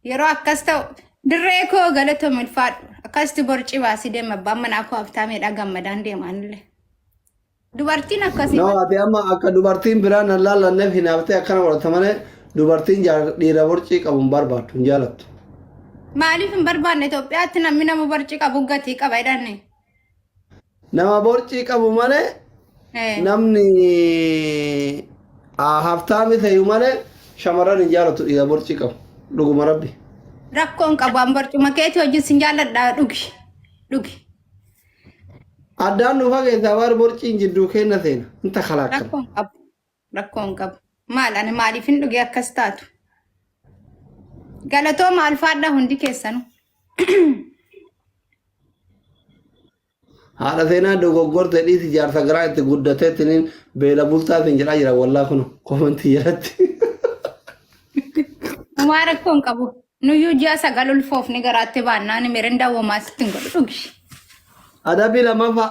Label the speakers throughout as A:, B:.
A: Yeroo akkas ta'u dirree koo galatoom ulfaadhu. Akkasitti borcii baasii deema abbaan manaa koo haftaameedha gammadaan deemaanillee. Dubartiin akkasii No, ati amma akka
B: dubartiin biraan hin laallanneef hinaaftee akkana godhata malee dubartiin jaar- dhiira borcii qabu hin barbaaddu hin jaalattu. maaliif
A: hin barbaanne Itoophiyaatti namni nama borcii qabu gatii qaba jedhanne.
B: Nama borcii qabu malee Eh. namni ah, haftaami ta'u malee shamarran hin jaalatu dhiira borcii qabu. Dhuguma rabbi. Rakkoon qabu
A: an barcuma keetii wajjin sin jaalladha dhugi. Dhugi.
B: Addaan nu fageessa abaar borciin jidduu kenna seena. Inta kalaakkama. Rakkoon qabu. rakkoo
A: hin qabu. Maal ani maaliifin dhugee akkas taatu? Galatoo maal faadhaa hundi keessanu?
B: Haadha seenaa dogoggorte dhiisi jaarsa garaa itti guddateetiin beela bultaa siin jedhaa jira wallaa kun komentii jalatti.
A: Homaa rakkoo hin qabu. Nuyyuu ji'a sagal ulfoofni garaatti baannaan mirindaa homaa sitti hin godhu dhugi. Adabii
B: lamaffaa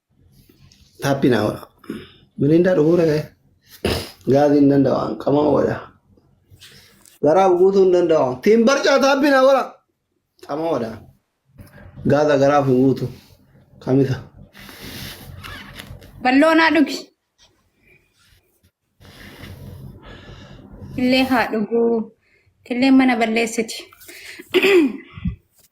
B: Happy now. Mirindaa dhuguu dhaga'e. Gaazii hin danda'an. Qamaa wada. Garaa guutuu hin danda'an. Tiin barcaa happy now wala. Qamaa wada. Gaaza garaaf hin guutu. Kamisa.
A: Balloonaa dhugi. Illee haa dhuguu. Illee mana balleessiti.